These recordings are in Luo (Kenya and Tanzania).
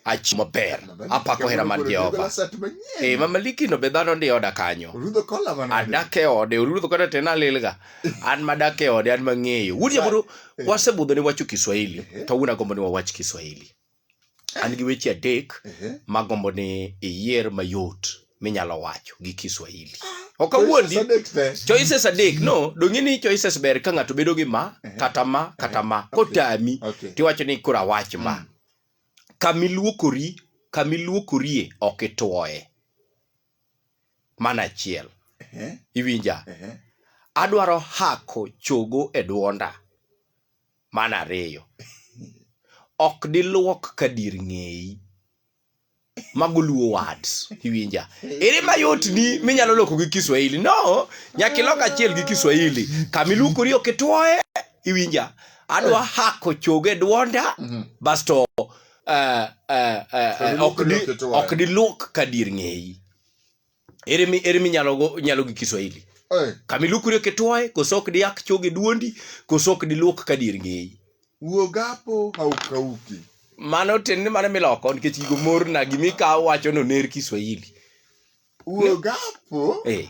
achieng' maber apako hera mar jehova e mamalikino be dhano ndi oda kanyo adak e ode orudho kata tena alilga an madak e ode an mang'eyo wuod jaburu eh. wasebudho ni wacho kiswahili eh. kawuono agombo ni wawach kiswahili eh. an gi weche adek magombo ni iyier mayot minyalo wacho gi Kiswahili. Ok awuondi. Choices adek te. Choices adek. No, donge ni choices ber ka ng'ato bedo gi ma, Ehe. kata ma, kata Ehe. ma. Okay. Kotami, Okay. tiwacho ni kura wach ma. Mm. Kamiluokori, kamiluokorie ok itwoye. Mana achiel. Ehe, Iwinja? ehe. Adwaro hako chogo e dwonda. Mana ariyo. Ok diluok ka dir ng'eyi. mago luo words iwinja ere mayot ni minyalo loko gi kiswahili no nyaka ilok achiel gi kiswahili kamiluokori ok itwoye iwinja adwa hako choge dwonda Mhm. basto eh, eh, eh, eh, ok di- Kamiluokori ok itwoye. ok diluok ka dir ng'eyi ere mi ere mi nyalo go nyalo gi Kiswahili Eh, kamilukure kitwaye kosok diak choge duondi kosok diluok ka dir ngeyi wuogapo haukauki mano tin ni mano miloko nikech gigo morna gimikawo wacho no ner Kiswahili wuogapo eh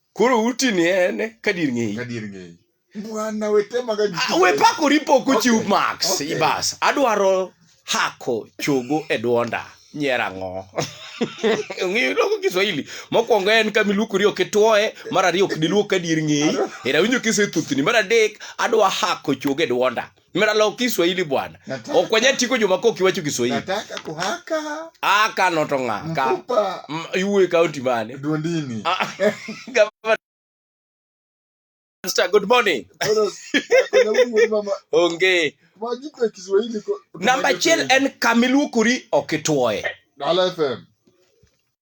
koro uti ni en kadir ng'eyi kadir ng'eyi bwana wetemaga Ah, we pako ripo kochiw Okay. max Okay. ibas adwaro hako chogo e dwonda nyiera ng'o ong'eyo loko kiswahili mokwongo en kamiluokori ok itwoye mar ariyo ok diluok kadier ng'eyi era winjo kisethuthni mar adek adwa hako chogo e dwonda Miralo Kiswahili bwana. Nataka- Okwenye tiko juma ko kiwacho Kiswahili. Nataka kuhaka Aka noto nga. Ka. mfupa M- Iwe kaunti mane? duondini. Ah, Gavana. Pastor, Good morning. Sasa, kuna Mungu mama, Onge. majipe Kiswahili ko- Namba achiel en kamiluokori ok itwoye. Dala FM.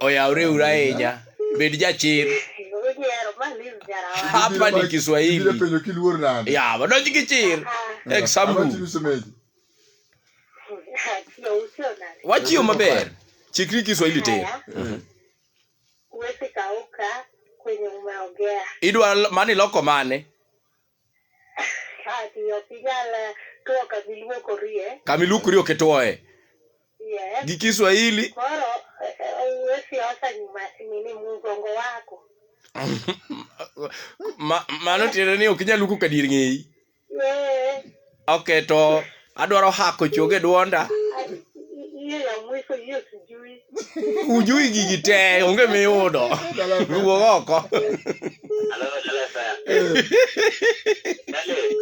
oyawre uru ahinya bed jachir hapa ni kiswahili ya wadonj gi chir example wachiyo maber chikri kiswahili te idwa mani loko mane Ati ok inyal eh, tuo kama iluokorie. Kama iluokori ok ituoye. Yes. Gi Kiswahili. Koro eh, eh, uwe siasa nyuma nini mgongo wako. Ma- Mano tiende ni ok inyal luoko ka dier ng'eyi. Yes. Okay, to adwaro hako chogo e dwonda. Ujui gigi te, onge miyudo. Wuog oko.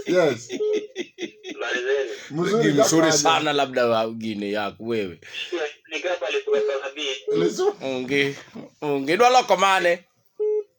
Yes. Mzuri Ni mzuri kaka sana labda wa gini yako wewe. Onge, onge dwa loko mane?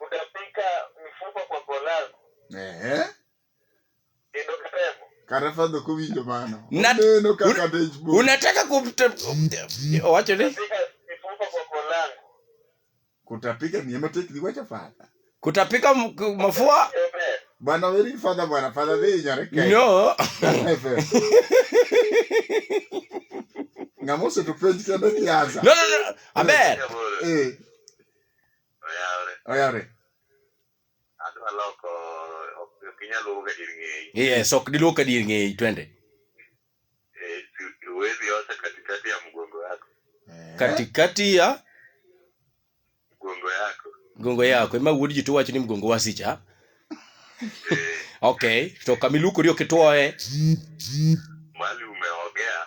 Utapika mifupa kwa kolago. Ehe. Kendo kiremo. Kata fadho kowinjo mano. Na- Oneno kaka dej bo. unataka kumta owacho ni Utapika mifupa kwa kolango. Kutapika ni ema tek ni wacha fadha. kutapika m- k- mafua Eber. Bwana weri fadha bwana fadha dhi nyare kai. no Ng'ama oseto penj kende kiaza. no no no aber Eh. Oyawre. Oyawre. Adwa loko ok ok inyal luwo ka dir ng'eyi. Yes, ok diluwo ka dir ng'eyi twende. Eh, si- Huwezi osha katikati ya mgongo yako. Katikati ya Mgongo yako. mgongo yako ema wuod ji to wacho ni mgongo wasicha. Eh, Okay, to kama ilukori ok itwoye. mali umeogea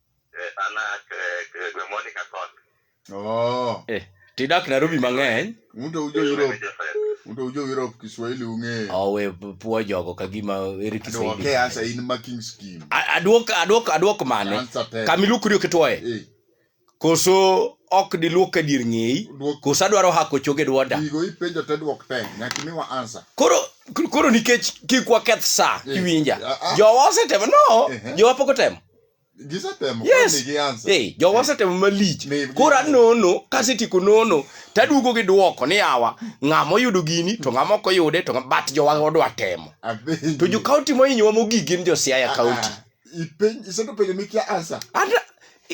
Eh, an a eh, eh, gweng' moro ni Kakot. Oh, Eh, tidak Nairobi mang'eny. un to ujo Europe, Joseph. un to ujo Europe Kiswahili ung'eyo. Owe puo jogo ka gima ere Aduoke Kiswahili. asa in ma king scheme. A- Aduok aduok aduok mane? Answer ten. Kama iluoko dio kitwoye. Eh, Koso ok diluok ka dier ng'eyi. duok Koso adwaro hako choge dwonda. gigo ipenjo te duok ten. Nyaka imiwa answer. Koro koro nikech kik waketh sa Eh, iwinja. ah, ah. Jowa osetemo no, Eh, eh. jowa pok otemo. gisetemo yes. koni gi ansa hey, jowa eh. osetemo malich koro anono kasetieko nono taduogo gi dwoko ni awa ng'ama oyudo gini to ng'ama ok oyude to bat jowa odwa temo to jo kaunti mohinyowa mogik gin jo siaya ah, kaunti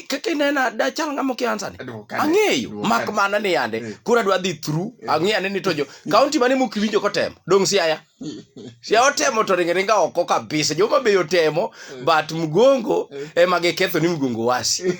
kaka inena dachal ng'ama okia ansani ang'eyo mak mana ni yande eh. koro adwa dhi through eh. ang'eyo ane ni to jo kaunti mane mokiwinjo kotemo dong siaya si otemo to ringe ringa oko kabisa joma be otemo eh. but mgongo eh. ema giketho ni mgongo wasi